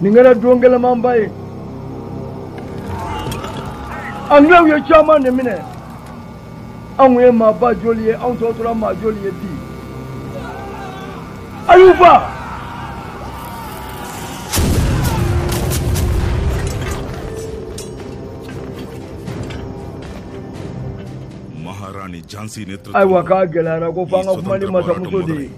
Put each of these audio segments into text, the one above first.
nin kɛra don gɛlɛmanba ye anglɛw ye caman de minɛ anw ye maa ba joli ye anw tɔ tora maa joli ye bi ayuba ayiwa k'a gɛlɛyara ko f'an ka kuma ni masamuso de ye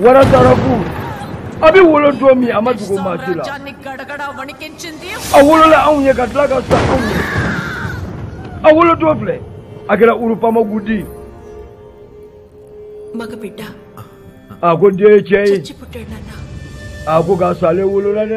wara darabu a bɛ wolo don min a ma dogo maa si la a wolola anw ye ka tila ka sa anw ye a wolo don filɛ a kɛra urupamagudi a ko den ye cɛ ye a ko k'a salen wolola dɛ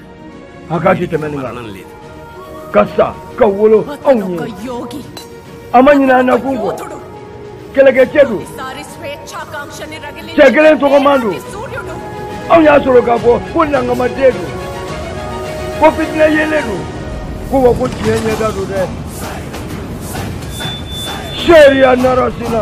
a k'a di tɛmɛ nin kan ka sa ka wolo anw ye a ma ɲinɛ an na kun kɔ kɛlɛkɛcɛ don cɛ kelen tɔgɔman don anw y'a sɔrɔ k'a fɔ ko nankamaden don ko fitinɛ yeelen don ko wa ko tiɲɛ ɲɛda don dɛ seeriya narasina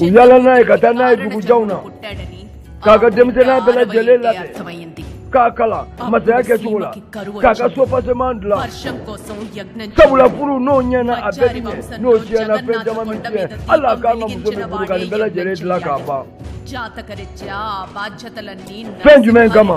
u yala n'a ye ka taa n'a ye dugujanw na k'a ka denmisɛnya bɛɛ lajɛlen labɛn k'a kalan masaya kɛcogo la k'a ka soubassement dilan sabula furu n'o ɲɛna a bɛɛ bi ɲɛ n'o tiɲɛna fɛn caman bi tiɲɛ hali a ka muso min furu ka nin bɛɛ lajɛlen dilan k'a ban fɛn jumɛn kama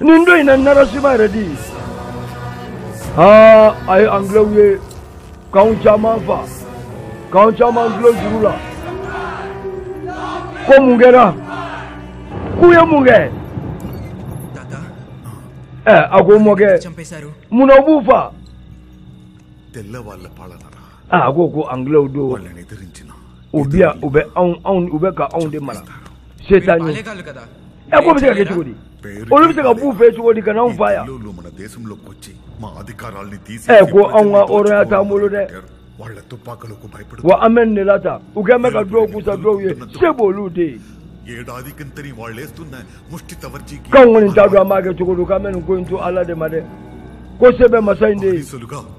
nin don in na narasima redi aa a ye angilɛw ye k'anw caman faa k'anw caman dulon juru la ko mun kɛra k'u ye mun kɛ ɛ a ko mɔkɛ mun na u b'u faa Aa a ko ko angilɛw don u bɛ yan u bɛ ka anw de mara se t'an ye a ko o bɛ se ka kɛ cogo di olu bɛ se ka bɔ u fɛ cogo di ka na anw faa yan ko anw ka hɔrɔnya t' an bolo dɛ wa a mɛn ne la ta u kɛlen bɛ ka dɔw kusa dɔw ye se b' olu de ye kɔni da an b'a kɛ cogo di ka mɛn ko in to ala de ma dɛ ko se bɛ masa in de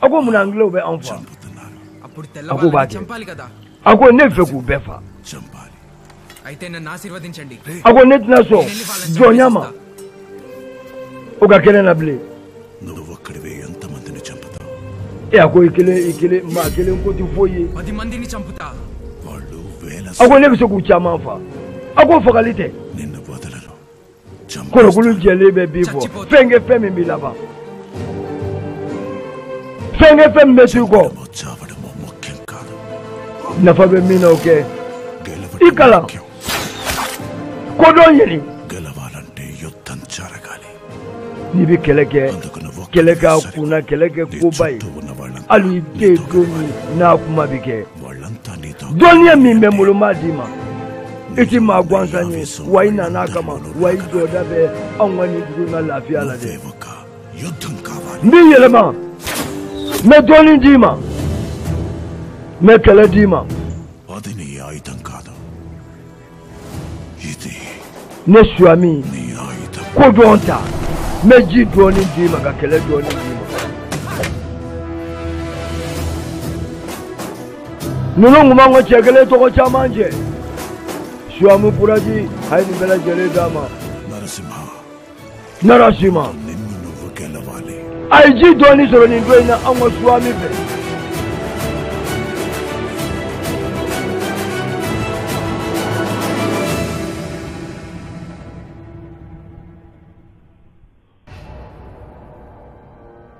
A ko mun angilɛw bɛ anw faa a ko ne b'a fɛ k'u bɛɛ faa a ko ne tɛna sɔn jɔnya ma o ka kelen na bilen e a ko i kelen i kelen maa kelen ko tɛ foyi ye a ko ne bɛ se k'u caman faa a ko fagali tɛ kɔnɔkulu jɛlen bɛ bii fɔ fɛn kɛ fɛn min b'i laban fɛn kɛ fɛn min bɛ t'i kɔ nafa bɛ min na o kɛ i kalan kodɔn yeli n'i bɛ kɛlɛ kɛ kɛlɛ k'a kunna kɛlɛ kɛ koba ye hali i tɛ don min na kuma bɛ kɛ dɔnniya min bɛ n bolo n b'a d'i ma i ti maa gansan ye wa i nana a kama wa i jɔda bɛ anw ka nin dugu in ka lafiya la dɛ n b'i yɛlɛma n bɛ dɔnni d'i ma n bɛ kɛlɛ d'i ma ne suami ko dɔn ta n bɛ ji dɔnni d'i ma ka kɛlɛ dɔnni d'i ma ninnu tun b'an ka cɛ kelen tɔgɔ caman cɛ suami puraji a ye nin bɛɛ lajɛlen d'a ma Narasima a ye ji dɔnni sɔrɔ nin don in na anw ka suwami fɛ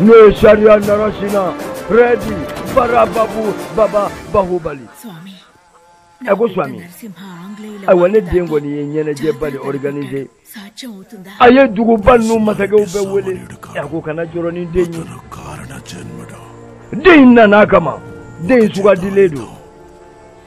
n'o ye sariya narasina rɛdi barababu baba bahubali a ko suwami ayiwa ne den kɔni ye ɲɛnajɛba de organise a ye duguba ninnu masakɛw bɛɛ wele a ko kana jɔrɔ ni den ye den in nana a kama den in sugandilen don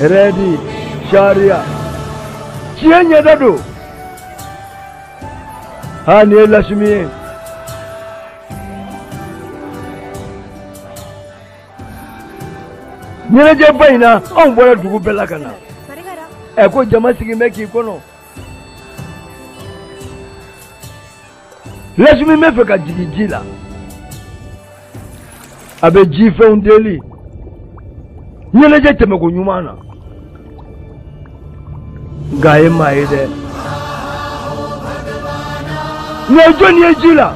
rɛdi sariya tiɲɛ ɲɛda don ha nin ye lasimi ye ɲɛnajɛba in na anw bɔra dugu bɛɛ la ka na ɛ ko jama sigilen bɛ k'i kɔnɔ lasimi bɛ fɛ ka jigin ji la a bɛ ji fɛnw deli ɲɛnajɛ tɛmɛ ko ɲuman na nka a ye maa ye dɛ nka jɔnni ye ji la.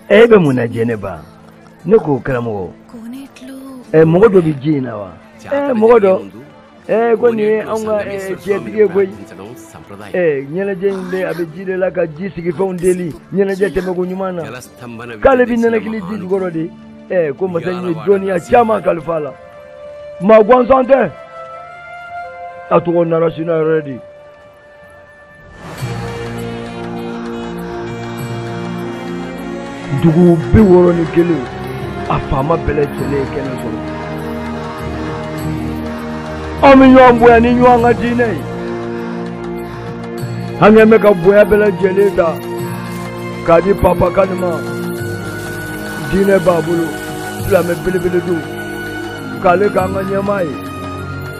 e bɛ mun na jɛnɛba ne ko karamɔgɔ ɛ mɔgɔ dɔ bɛ ji in na wa ɛ mɔgɔ dɔ ɛ ko nin ye anw ka jɛtigi ye koyi ɛ ɲɛnajɛ in bɛ a bɛ ji de la ka ji sigi fɛnw deli ɲɛnajɛ tɛmɛ ko ɲuman na k'ale bɛ ninakili ji jukɔrɔ de ɛ ko masa in ye dɔnniya caman kalifa a la maa gansan tɛ a tɔgɔ narasina rɛdi dugu bi wɔɔrɔ ni kelen a faama bɛɛ lajɛlen ye kɛnɛ sɔrɔ an bɛ ɲɔgɔn bonya ni ɲɔgɔn ka diinɛ ye an kɛn bɛ ka bonya bɛɛ lajɛlen ta k'a di papa kani ma diinɛ b'a bolo silamɛ belebele don k'ale k'an ka ɲɛmaa ye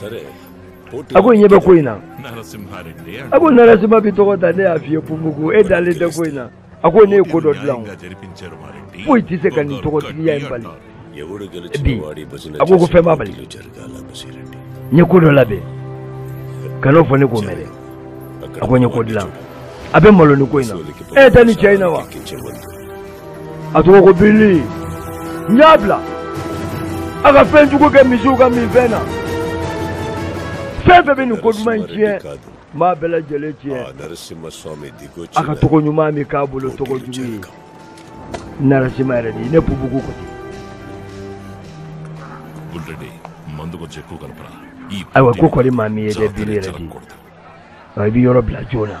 సరే a ko ɲɛ bɛ ko in na a ko narasima bi tɔgɔ ta ne y'a f'i ye pubugu e dalen tɛ ko in na a ko ne ye ko dɔ dilan o foyi tɛ se ka nin tɔgɔtigiya in bali bi a ko ko fɛn b'a bali n ye ko dɔ labɛn kan'o fɔ ne k'o mɛn dɛ a ko n ye ko dilan a bɛ malo nin ko in na e tɛ nin cɛ in na wa a tɔgɔ ko bili n y'a bila a ka fɛn jugu kɛ misiw ka minfɛn na fɛn fɛn bɛ nin ko duman in tiɲɛ n b'a bɛɛ lajɛlen tiɲɛ a ka tɔgɔ ɲuman min k'a bolo tɔgɔ jugu ye narasima redi ne pubugu ko ten ayiwa ko kori maa m'i ye dɛ bili redi i bɛ yɔrɔ bila joona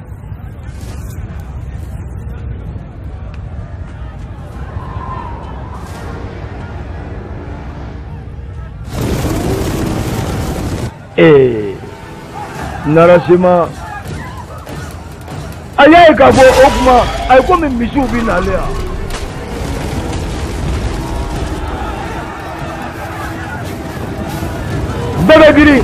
ee narasima a y'a ye k'a fɔ o tuma a ye komi misiw bɛ n'ale yan. bɛɛ bɛ girin.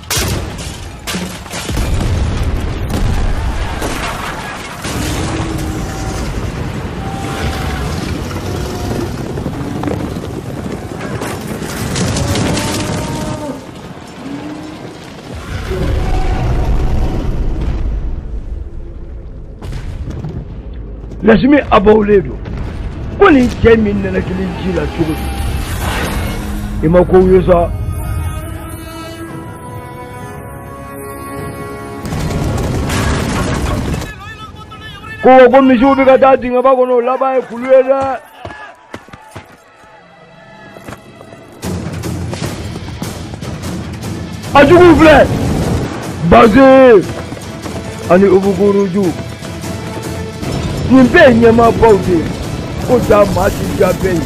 lasimi abawulen don ko nin cɛ min nana kelen ji la cogo di i ma ko ye sa kuwa ko misiw bɛ ka taa dingɛba kɔnɔ o laban ye kulu ye dɛ a juguw filɛ baze ani ubuguruju nin bɛɛ ye ɲɛmaabaw de ye ko jaa maa ti diya bɛɛ ye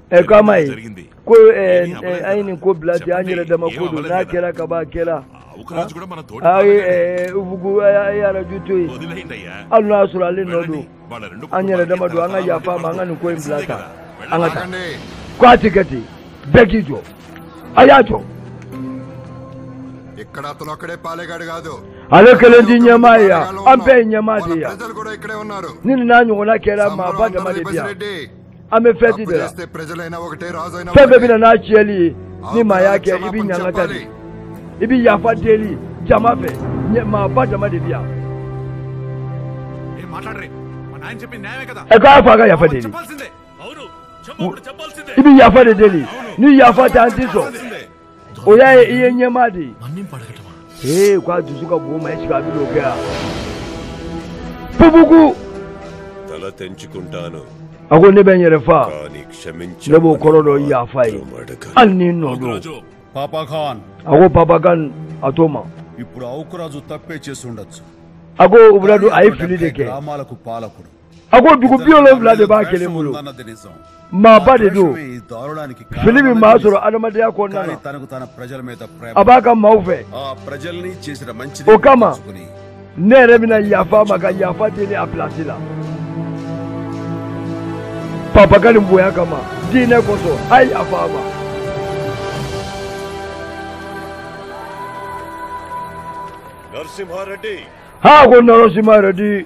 ɛ k'a ma ye ko an ye nin ko bila ten an yɛrɛ dama ko don n'a kɛra ka ban a kɛra a ye ubugu a ye Raju to yen hali n'a y'a sɔrɔ ale nɔ don an yɛrɛ dama don an ka yafa a ma an ka nin ko in bila tan an ka taa ko a tɛ kɛ ten bɛɛ k'i jɔ a y'a jɔ ale kelen tɛ ɲɛmaa ye yan an bɛɛ ye ɲɛmaa de ye yan ni nin n'a ɲɔgɔnna kɛra maaba dama de bi yan an bɛ fɛti de la fɛn bɛɛ bɛna n'a tiɲɛli ye ni maa y'a kɛ i bɛ ɲanga ta de i bɛ yafa deli jama fɛ maaba dama de bɛ yan ɛ ko a fa ka yafa deli i bɛ yafa de deli ni yafa tɛ an tɛ sɔn o y'a ye i ye ɲɛmaa de ye ee ko a dusu ka bon ma esike a bɛ n'o kɛ yan pupuku a ko ne bɛ n yɛrɛ fa ne b'o kɔrɔ dɔ yafa ye hali ni n nɔ don a ko Papa Khan a t'o ma a ko ubu Raju a ye fili de kɛ a ko dugu bi wolonfila de b'a kelen bolo maaba de don fili bɛ maa sɔrɔ adamadenya kɔnɔna na a b'a ka maaw fɛ o kama ne yɛrɛ bɛna yafa a ma ka yafa deli a pilasi la Papa Khan bonya kama diinɛ kosɔn a ye yafa a ma Narasimha Reddy. Ha, a ko Narasimha Reddy.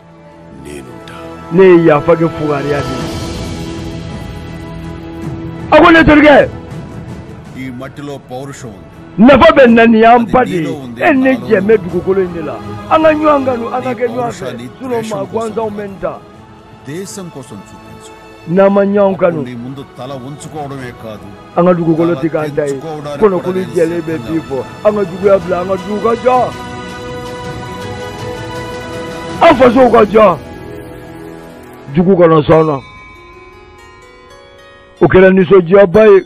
ne ye yafa kɛ fugariya de ye a ko ne terikɛ nafa bɛ n na nin y'an ba de ye e ni ne jɛ bɛ dugukolo in de la an ka ɲɔgɔn kanu an ka kɛ ɲɔgɔn fɛ sinɔn maa gansanw bɛ n ta n'an ma ɲɔgɔn kanu an ka dugukolo tɛ k'an ta ye kɔnɔkulu jɛlen bɛ bii fɔ an ka juguya bila an ka dugu ka jɔ an faso ka jɔ jugu kɔnɔ sɔnna o kɛra nisɔndiyaba ye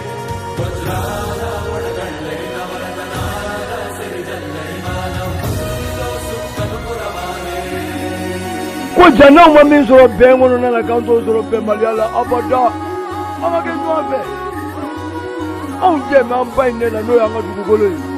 ko ja n'anw ma min sɔrɔ bɛn kɔnɔna na k'an t'o sɔrɔ bɛnbaliya la abada an ka kɛ ɲɔgɔn fɛ anw jɛ bɛ an ba in de la n'o y'an ka dugukolo ye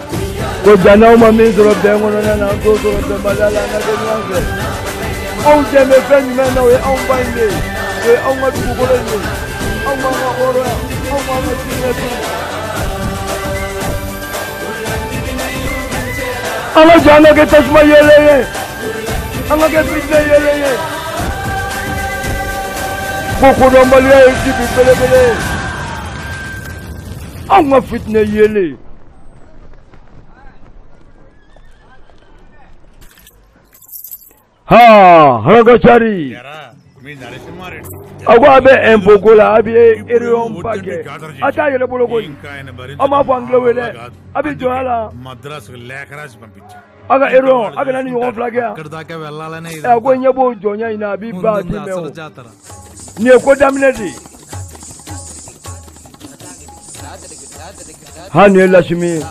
ko jana anw ma min sɔrɔ bɛn kɔnɔna na an t'o sɔrɔ bɛnbaliya la an ka kɛ ɲɔgɔn fɛ anw jɛlen bɛ fɛn jumɛn na o ye anw ba in de ye o ye anw ka dugukolo in de ye anw b'an ka hɔrɔnya anw b'an ka diinɛ di an ka jɔ an ka kɛ tasuma yeelen ye an ka kɛ fitinɛ yeelen ye ko kodɔnbaliya ye dibi belebele ye anw ka fitinɛ yeelen haragacari a ko a bɛ ɛnpo ko la a bɛ eriyɔn ba kɛ a t'a yɛlɛ bolo koyi aw m'a fɔ an tulo wele dɛ a bɛ jɔ a la. a ko ero aw kana nin ɲɔgɔn fila kɛ yan ɛ ko n y'e bɔ jɔnya in na a b'i ba di mɛ o nin ye ko daminɛ de ye ha nin ye lasimi ye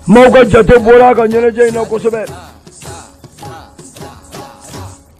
maaw ka jate bɔra a ka ɲɛnajɛ in na kosɛbɛ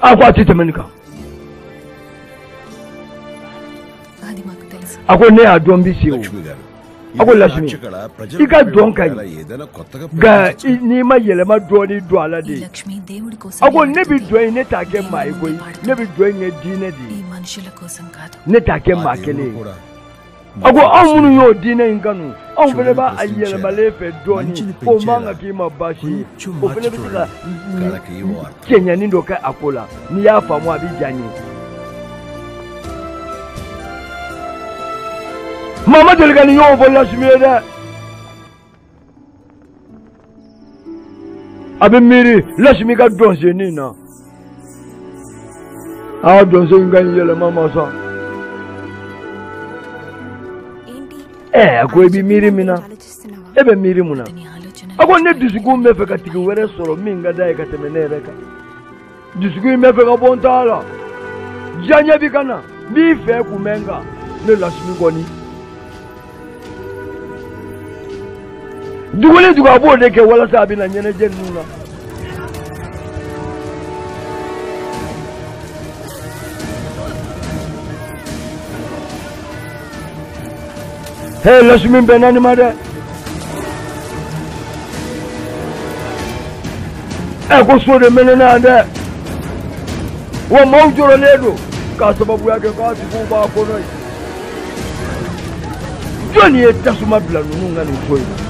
a ko a tɛ tɛmɛ nin kan a ko ne y'a dɔn bisi o a ko lasimi i ka dɔn ka ɲi nka n'i ma yɛlɛma dɔɔni don a la dɛ a ko ne bi dɔn in ne t'a kɛ maa ye koyi ne bi dɔn in kɛ diinɛ de ye ne t'a kɛ maa kelen ye a ko anw minnu y'o diinɛ in kanu anw fana b'a a yɛlɛmalen fɛ dɔɔnin o man kan k'i ma baasi ye o fana bɛ se ka cɛɲɛni dɔ kɛ a ko la n'i y'a faamu a bɛ diya n ye maa ma deli ka nin ɲɔgɔn fɔ lasimi ye dɛ a bɛ miiri lasimi ka dɔnsen in na aa dɔnsen in ka ɲi yɛlɛma ma sa ɛɛ a ko i bɛ miiri min na e bɛ miiri mun na a ko ne dusukun bɛ fɛ ka tigi wɛrɛ sɔrɔ min ka d'a ye ka tɛmɛ ne yɛrɛ kan dusukun in bɛ fɛ ka bɔ n ta la diyaɲɛ bi ka na n b'i fɛ kun bɛ n kan ne lasimi kɔni dugu ni dugu a b'o de kɛ walasa a bɛ na ɲɛnajɛ ninnu na He lasimi bɛnna nin ma dɛ ɛ ko so de mɛnɛna yan dɛ wa maaw jɔrɔlen don k'a sababuya kɛ k'a tigiw b'a kɔnɔ yen jɔni ye tasuma bila ninnu ka nin so in na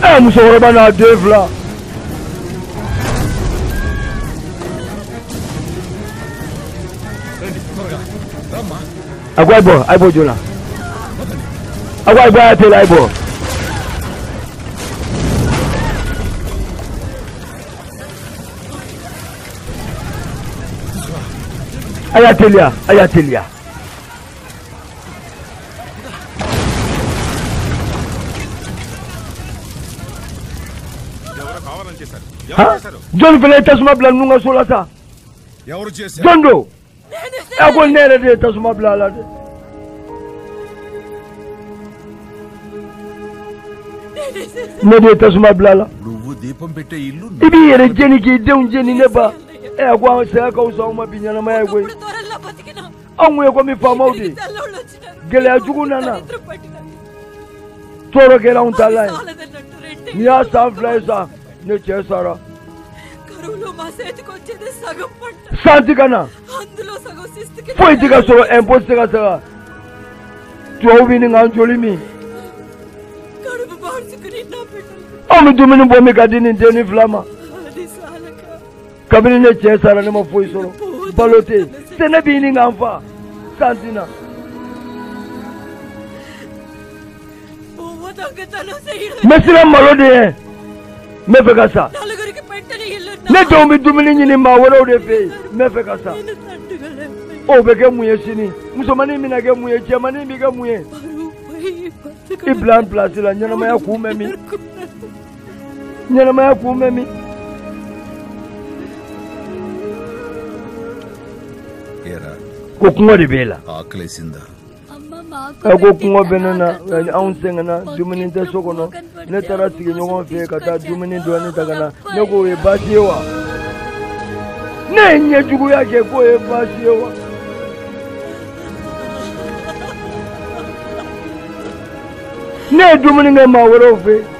ɛ musokɔrɔba n'a den fila a ko a bɔ a ye bɔ joona a ko a bɔ a y'a teliya a ye bɔ. a y'a teliya a y'a teliya. jɔn fana ye tasuma bila ninnu ka so la sa jɔn don ɛ a ko ne yɛrɛ de ye tasuma bila a la dɛ. ne de ye tasuma bila a la i b'i yɛrɛ jeni k'i denw jeni ne ba ɛ a ko an saya ka wusa anw ma bi ɲɛnamaya ye koyi. anw kun ye komi faamaw de gɛlɛya jugu nana tɔɔrɔ kɛra anw ta la ye nin y'a san fila ye sa ne cɛ sara san ti ka na foyi ti ka sɔrɔ ɛnpo ti se ka sara tubabu bɛ ɲini k'an joli min anw bɛ dumuni bɔ min ka di nin denni fila ma kabini ne cɛ sara ne ma foyi sɔrɔ balo tɛ yen sɛnɛ bɛ ɲini k'an fa san ti na n bɛ siran malo de ɲɛ n bɛ fɛ ka sa ne denw bɛ dumuni ɲini maa wɛrɛw de fɛ yen n bɛ fɛ ka sa o bɛ kɛ mun ye sini musomanin bɛna kɛ mun ye cɛmanin bɛ kɛ mun ye i bila n pilasi la ɲɛnamaya kun bɛ min ɲɛnamaya kun bɛ min ko kɔngɔ de b'e la ɛ ko kɔngɔ bɛ ne na anw sɛgɛnna dumuni tɛ so kɔnɔ ne taara sigiɲɔgɔn fɛ ka taa dumuni dɔɔni ta ka na ne ko o ye baasi ye wa ne ye ɲɛjuguya kɛ k'o ye baasi ye wa. ne ye dumuni kɛ maa wɛrɛw fɛ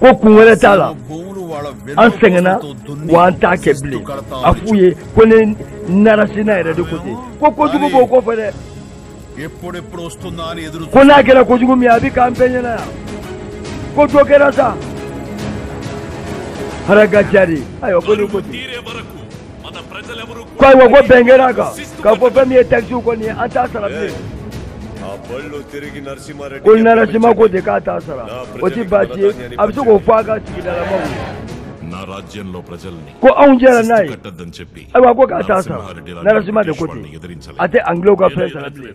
ko kun wɛrɛ t'a la an sɛgɛnna wa an t'a kɛ bilen a f'u ye ko ne narasima yɛrɛ de ko ten ko kojugu b'o kɔfɛ dɛ ko n'a kɛra kojugu min ye a bɛ k'an bɛɛ ɲɛna yan ko dɔ kɛra sa haragajari ayiwa ko ne ko ten ko ayiwa ko bɛn kɛra a kan k'a fɔ fɛn min ye takisi ko nin ye an t'a sara bilen ko narasima ko ten k'a t'a sara o ti baasi ye a bɛ se k'o fɔ a ka sigidalamaw ye ko anw jɛra n'a ye ayiwa ko k'a t'a sara narasima de ko ten a tɛ angilɛw ka fɛn sara bilen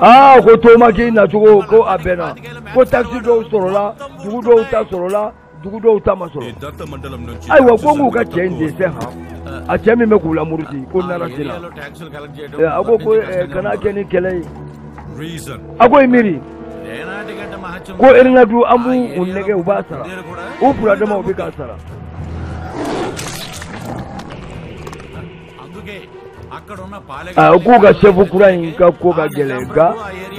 aa ko tomaki nacogo ko a bɛnna ko takisi dɔw sɔrɔla dugu dɔw ta sɔrɔla dugu dɔw ta ma sɔrɔ ayiwa ko k'u ka cɛ in dɛsɛ han a cɛ min bɛ k'u lamuruti ko narasima a ko ko kana kɛ ni kɛlɛ ye a ko i miiri ko irin na du an b'u nɛgɛn u b'a sara u fura dama u bi k'a sara a k'u ka sefu kura in ka ko ka gɛlɛn nka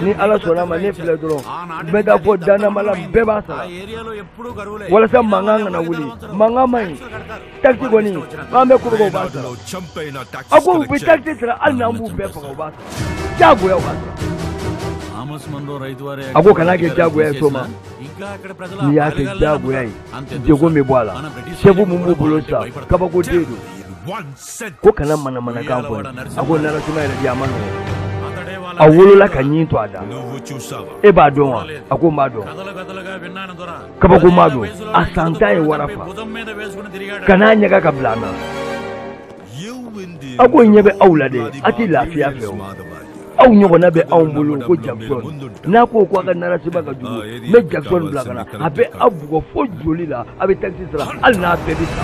ni ala sɔnna ma ne filɛ dɔrɔn n bɛ taa fɔ danamala bɛɛ b'a sara walasa mankan kana wuli mankan man ɲi Taxe kɔni an bɛ kɔrɔbɔ u b'a sara a ko u bɛ taxe sara hali n'an b'u bɛɛ faga u b'a sara diyagoya u b'a sara a ko kana kɛ diyagoya ye so ma n'i y'a kɛ diyagoya ye degun bɛ bɔ a la sɛfu mun b'u bolo sisan kabako de don ko kana manamanakan fɔ a ko narasima yɛrɛ di a ma nɔgɔn a wolola k'a ɲin to a da e b'a dɔn wa a ko n b'a dɔn kabakoma don a san tan ye wara faga n'a ɲɛga ka bila na a ko ɲɛ bɛ aw la dɛ a tɛ lafiya fɛ o aw ɲɔgɔnna bɛ anw bolo ko jackson n'a ko ko a ka narasima ka jugu n bɛ jackson bila ka na a bɛ aw bugɔ fo joli la a bɛ takisi sara hali n'a bɛɛ bɛ sa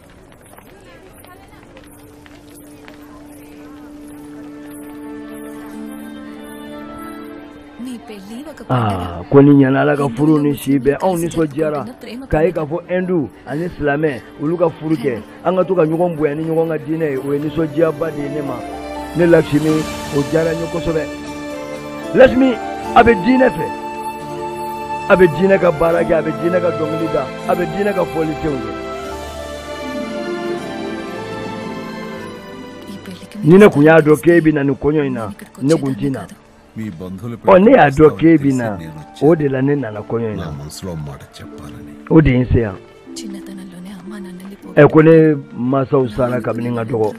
Aa ko nin ɲana ala ka furu ni si bɛn anw nisɔndiyara k'a ye k'a fɔ endu ani silamɛ olu ka furu kɛ an ka to ka ɲɔgɔn bonya ni ɲɔgɔn ka diinɛ ye o ye nisɔndiyaba de ye ne ma ne lasimi o diyara n ye kosɛbɛ lasimi a bɛ diinɛ fɛ a bɛ diinɛ ka baara kɛ a bɛ diinɛ ka dɔnkili da a bɛ diinɛ ka fɔli fɛnw kɛ ni ne kun y'a dɔn k'e bɛ na nin kɔɲɔ in na ne kun ti na ɔ ne y'a dɔn k'e bɛ na o de la ne nana kɔɲɔ in na o de ye n se yan ɛ ko ne mansaw sara kabini n ka dɔgɔ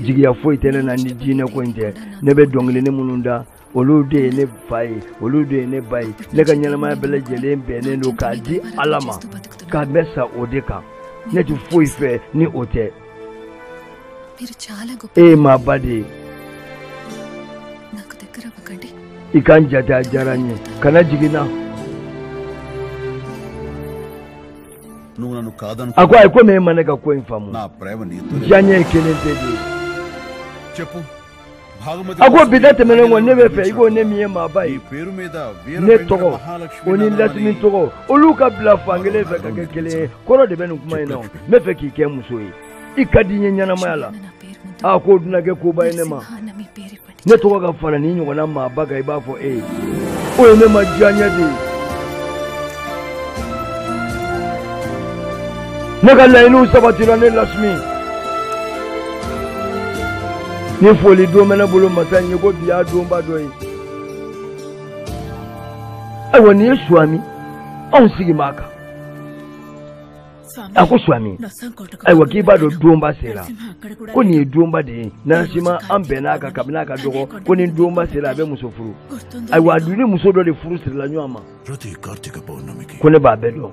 jigiya foyi tɛ ne na ni diinɛ ko in tɛ ne bɛ dɔnkili ni minnu da olu de ye ne fa ye olu de ye ne ba ye ne ka ɲɛnamaya bɛɛ lajɛlen bɛnnen don k'a di ala ma ka n bɛ sa o de kan ne tɛ foyi fɛ ni o tɛ e ye maaba de ye i ka n jate a diyara n ye kana jigi n na a ko ayi komi e ma ne ka ko in faamu diyaɲɛ ye kelen tɛ dɛ a ko bi da tɛmɛnen kɔ ne bɛ fɛ i ko ne min ye maaba ye ne tɔgɔ o ni lasimi tɔgɔ olu ka bila fan kelen fɛ ka kɛ kelen ye kɔrɔ de bɛ nin kuma in na n bɛ fɛ k'i kɛ muso ye i ka di n ye ɲɛnamaya la a k'o dun na kɛ koba ye ne ma ne tɔgɔ ka fara nin ɲɔgɔnna maaba kan i b'a fɔ e ye o ye ne ma diyaɲɛ de ye ne ka laɲiniw sabatira ne lasimi ni foli don bɛ ne bolo masa in ye ko bi y'a donba dɔ ye ayiwa nin ye suwami anw sigi b'a kan a ko suwami ayiwa k'i b'a dɔn donba sera ko nin ye donba de ye narasima an bɛnna a kan kabini a ka dɔgɔ ko ni donba sera a bɛ muso furu ayiwa a dun ni muso dɔ de furu sirila ɲɔgɔn ma ko ne b'a bɛɛ dɔn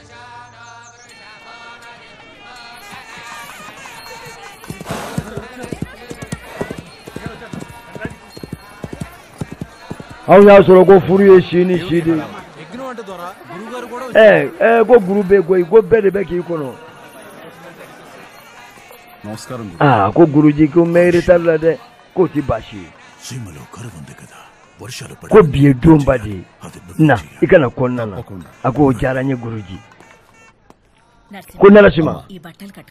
Anw y'a sɔrɔ ko furu ye si ni si de ko guru bɛ ko bɛɛ de bɛ k'i kɔnɔ ko guruji ko ne rɛtarila dɛ k'o tɛ baasi ye ko bi ye donba de ye na i kana kɔnɔna na a ko o diyara n ye guruji ko narasima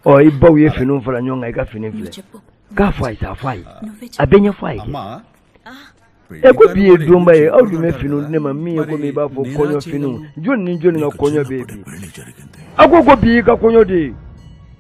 ɔ i baw ye finiw fara ɲɔgɔn kan i ka fini filɛ k'a fɔ a ye sa a fɔ a ye a bɛ ɲɛfɔ a ye ɛ ko bi ye donba ye aw dun bɛ finiw di ne ma min ye komi i b'a fɔ kɔɲɔ finiw jɔni ni jɔni ka kɔɲɔ bɛ yen bi a ko ko bi y'i ka kɔɲɔ de ye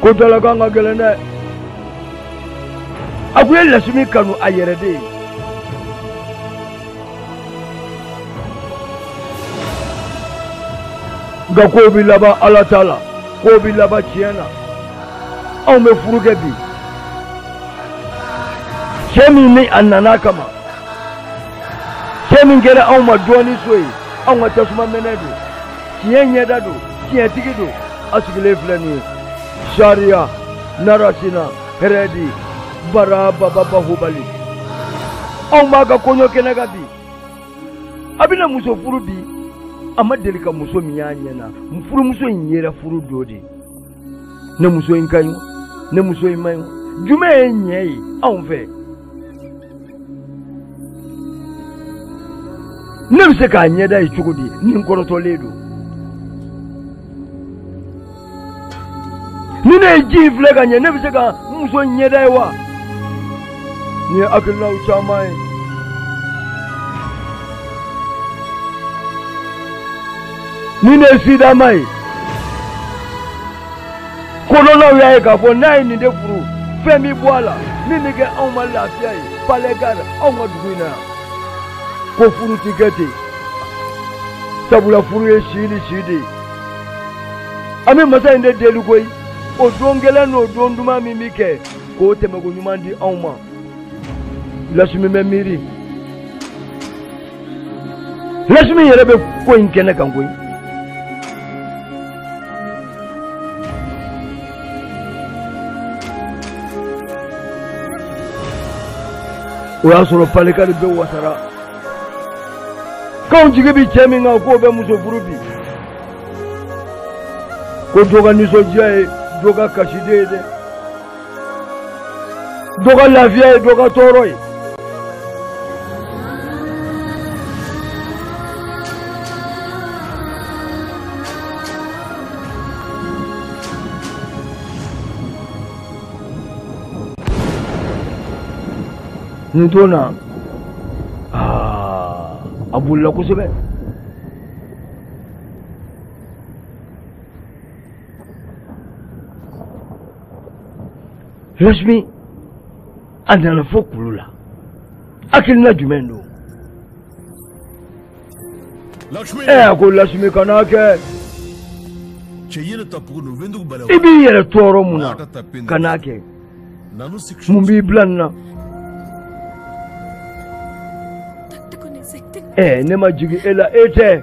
ko dalakan ka gɛlɛn dɛ a kun ye lasimi kanu a yɛrɛ de ye nka kow bɛ laban ala ta la kow bɛ laban tiɲɛ na anw bɛ furu kɛ bi cɛ min ni a nana kama cɛ min kɛra anw ma dɔɔnin so ye anw ka tasuma mɛnɛ don tiɲɛ ɲɛda don tiɲɛtigi don a sigilen filɛ nin ye sariya narasima hɛrɛdi bara baba bahubali anw b'a ka kɔɲɔ kɛnɛ kan bi a bɛna muso furu bi a ma deli ka muso min y'a ɲɛ na furumuso in yera furu don de ne muso in ka ɲi wo ne muso in man ɲi wo jumɛn ye ɲɛ ye anw fɛ ne bɛ se k'a ɲɛda ye cogo di ni n kɔrɔtɔlen don ni ne ye ji in filɛ ka ɲɛ ne bɛ se ka n muso ɲɛda ye wa nin ye hakilinaw caman ye ni ne ye sidama ye kodɔnnaw y'a ye k'a fɔ n'a ye nin den furu fɛn bɛ bɔ a la min bɛ kɛ anw ma lafiya ye palɛgari anw ka dugu in na yan ko furu ti kɛ ten sabula furu ye si ni si de ye an bɛ masa in de deli koyi o don gɛlɛn n'o don duman min bɛ kɛ k'o tɛmɛko ɲuman di anw ma lasimi bɛ miiri lasimi yɛrɛ bɛ ko in kɛnɛ kan koyi o y'a sɔrɔ palikari bɛɛ wasara k'anw jigi bɛ cɛ min kan k'o bɛ muso furu bi ko dɔ ka nisɔndiya ye dɔ ka kasi de ye dɛ dɔ ka lafiya ye dɔ ka tɔɔrɔ ye nin don na a bolila kosɛbɛ Lasimi a nana fo kulu la hakilina jumɛn don ɛ a ko lasimi kana kɛ i b'i yɛrɛ tɔɔrɔ mun na kana kɛ mun b'i bila nin na ɛ ne ma jigin e la e tɛ